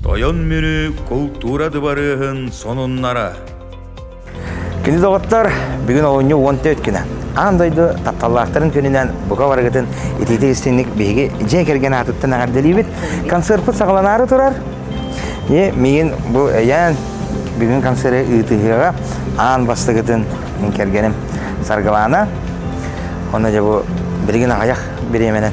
Тойон Мүрү култуура дыбарыаһын сонуннара Кини доҕоттор, бүгүн олунньу уон төрт күнэ. Аан дойду тапталлаахтарын күнүнэн бука барыгытын итиитик истинник биһиги дьиэ кэргэн аатыттан эҕэрдэлиибит. Концерпыт саҕаланаары турар. И миигин бу эйээн бүгүн концерты ыытыһыаҕа аан бастыгытын мин кэргэним Саргылаана. Онно дьэ бу билигин аҕыйах бириэмэнэн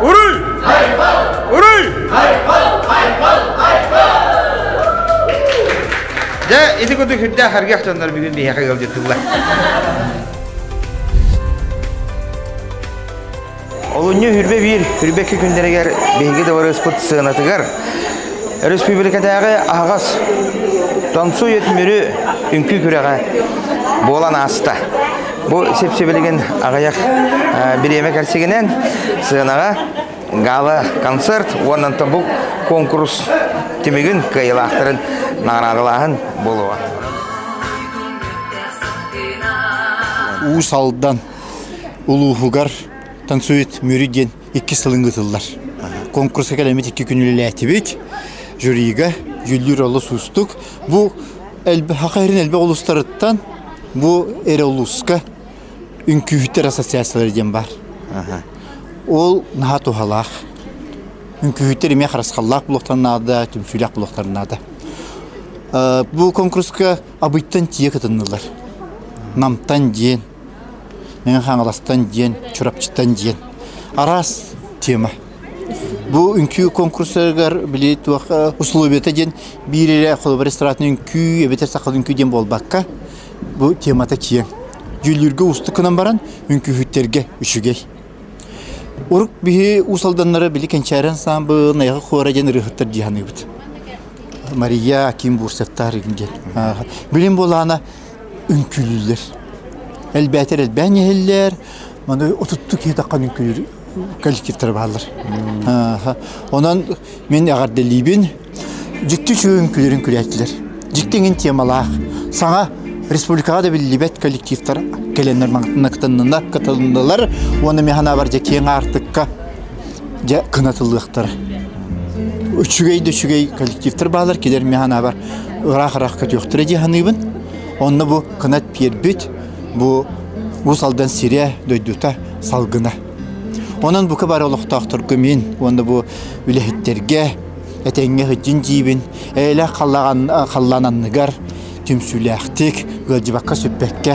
Уруй! Уруй! Дьэ, ити курдук үрдээх харгах дьоннор бүгүн биһиэхэ ыалдьыттылар. Олунньу үрбэ биир үрбэкки күннэригэр биһиги дыбарыаспыт сыанатыгар өрөспүүбүлүкэтээҕи аһаҕас Томсу Өтмүрү үҥкүү күрэҕэ буолан ааста. Бу сип-сибилигин аҕыйах бириэмэ кэрсигинэн сыанаҕа гала-концерт уонна бу конкурс түмүгүн кыайылаахтарын наҕараадалааһын буолуо. Уус Алдан улууһугар «Танцует Мүрү» диэн иккис сылын ыытыллар. Конкурска кэлэммит икки күн үлэлээтибит. Жюрига Дьүллүүр олус уустук. Бу Саха Сирин элбэх улуустарыттан бу эр улууска үҥкүүһүттэр ассоциациялара диэн бар. Ол наһаа туһалаах. Үҥкүүһүттэр эмиэ харысхаллаах булуохтарын наада, түмсүүлээх булуохтарын наада. Э, бу конкурска Абыйтан тиийэ кытыннылар. Намтан диэн, Мин Хаҥаластан диэн, Чурапчыттан диэн араас тема. Бу үҥкүү конкурсыгар били туох условията диэн биир эрэ холобур эстрадный үҥкүү эбэтэр сахал үҥкүү диэн буолбакка бу темата киэҥ. Дьүүллүүргэ уустук гынан баран үҥкүүһүттэргэ үчүгэй. Урук биһи уус алданнара били Кэнчээри ансаамбыл Найга Хуора диэн ырыаһыттар дьиһаныыбыт. Мария Аким Бурсаттаар диэн. Билим буолаана үҥкүүлүүллэр. Элбээтэр элбээн иһиллэр. Маны отутту киһитэххэ үҥкүүлүүр коллективтэр бааллар. Онон мин эҕэрдэлиибин. Дьикти үчүгэй үҥкүүлэрин күрээтилэр. Дьикти иҥин темалаах. Саҥа республикаҕа да биллибэт коллективтар кэлэннэр кытыннылар уонна миэхэнэ бар дьэ киэҥ аартыкка дьэ кынатыллыахтар үчүгэй да үчүгэй коллективтар баалар килэр мэ ханаабар ыраах-ыраах көтүөхтэрэ дии саныыбын онно бу кынат пиэрбит бу Уус Алдан сирэ дойдута салгына онон бука бары олохтоохторго мин уонна бу үлэһиттерге этэҥҥэ хыддьын диибин эйэлээх халлаан анныгар түмсүүлээхтик ыалдьыбакка сүппэккэ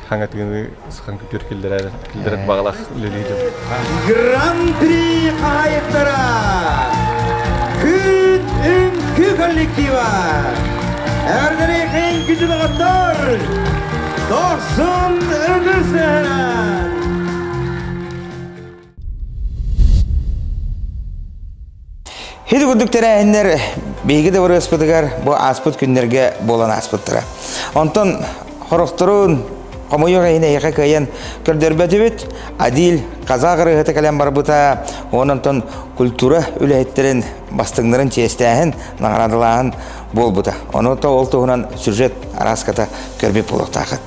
хаҥатыыны сахан күтүөр киллэрэр киллэрэр баҕалаах үлэлии дьон. Гран-при хаһайыттара Күн үҥкүү коллектива Әрдерейхен күтүбэҕаттар Дохсун үгүсәһэрэ Хит курдук тэрээһиннэр биһиги дыбарыаспытыгар бу ааспыт күннэргэ буолан ааспыттара. Онтон хорохторун хомойуох иһин эйиэхэ кыайан көрдөрбөтүбүт. Адил казах ырыаһыта кэлэн барбыта, онтон культура үлэһиттэрин бастыҥнарын чиэстээһин, наҕараадалааһын буолбута. Ону то ол туһунан сюжет араската көрбүт болуохтаахыт.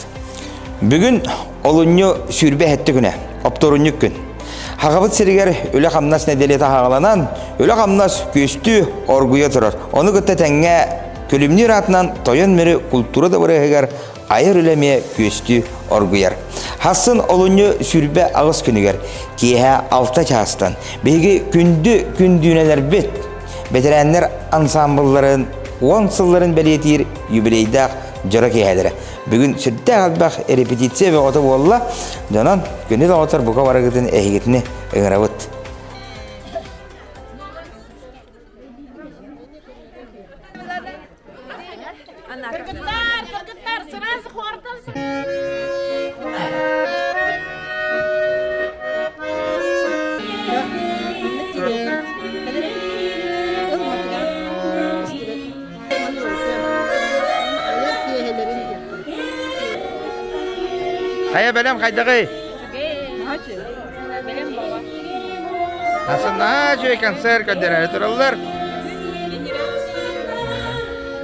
Бүгүн Олунньу сүүрбэ эһэтти күнэ, оптурунньук күн. Хагабыт сиригер үлэ-хамнас нэдиэлиэт аһаҕаланан, үлэ-хамнас күөстүү оргуйа турар. Ону кытта тэҥҥэ күлүмнүүр аатынан тойон мүрү култуура дабырыһыгар айар үлэмиэ күөстүү оргуйар. Хассын олунньу сүүрбэ аҕыс күнүгэр киэһэ алта чаастан биһиги күндү күндүүнэлэрбит бэтэрээннэр ансаамбылларын уон сылларын бэлиэтиир юбилейдаах дьоро киэһэлэрэ Бүгүн сүрдээх элбэх репетиция бөҕөтө буолла. Дьонон күнү бөҕөтөр бука барыгытын эһигитини ыҥырабыт. Хайа бэлэм хайдаҕый? Асына үчүгэй концерт көрдөрөөрү тураллар.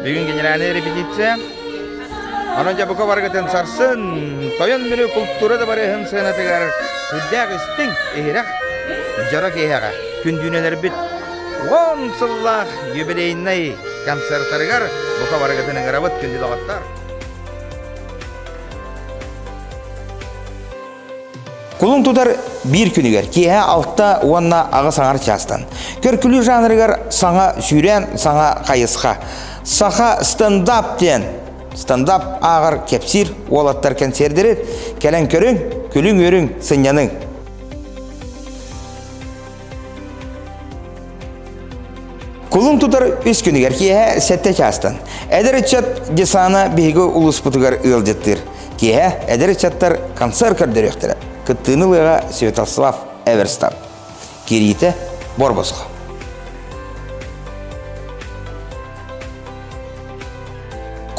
Бүгүн генеральная репетиция. Аны жабыка баргытын сарсын, тойон мүрү култуура да барыһын сыанатыгар күрдээх үстүң, иһирэх, жара киһэҕэ, күндүүнелербит Уон сыллаах юбилейнай концертарыгар бука барыгытын ыҥырабыт, күндү доҕоттор! Кулун тутар биир күнүгэр киэһэ алта уонна аҕыс аҥар чаастан көркүлүү жанрыгар саҥа сүүрээн саҥа хайысха саха стендап диэн стендап ааҕар кэпсиир уолаттар кэнсиэрдэрин кэлэн көрүҥ күлүҥ үөрүҥ сынньаныҥ Кулун тутар үс күнүгэр киэһэ сэттэ чаастан. Эдэр ыччат десана биһиги улууспутугар ыалдьыттыыр. Киэһэ эдэр ыччаттар концерт көрдөрүөхтэрэ. Кыттыыны ылыаҕа Святослав Эверстан. Кириитэ Борбоско.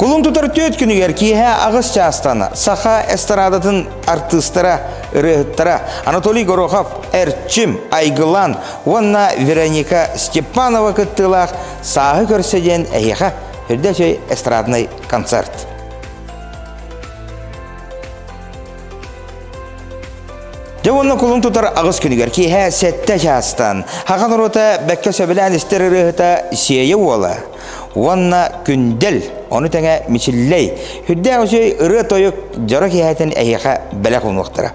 Кулун тутар түөт күнүгэр киэһэ аҕыс чаастана саха эстрадатын артыыстара, ырыаһыттара Анатолий Горохов, Эрчим, Айгылан уонна Вероника Степанова кыттыылаах «Сааһы көрсө» диэн эһиэхэ үрдэ өй эстрадный концерт. Дьэ уонна кулун тутар аҕыс күнүгэр киэһэ сэттэ чаастан Хахан урута бэккэ сөбүлээн истэр ырыаһыта Сиэйэ уола уонна Күндэл ону тэҥэ Мичиллэй үрдээх үсүй ырыа-тойук дьоро киэһэтин эһиэхэ бэлэх уунуохтара.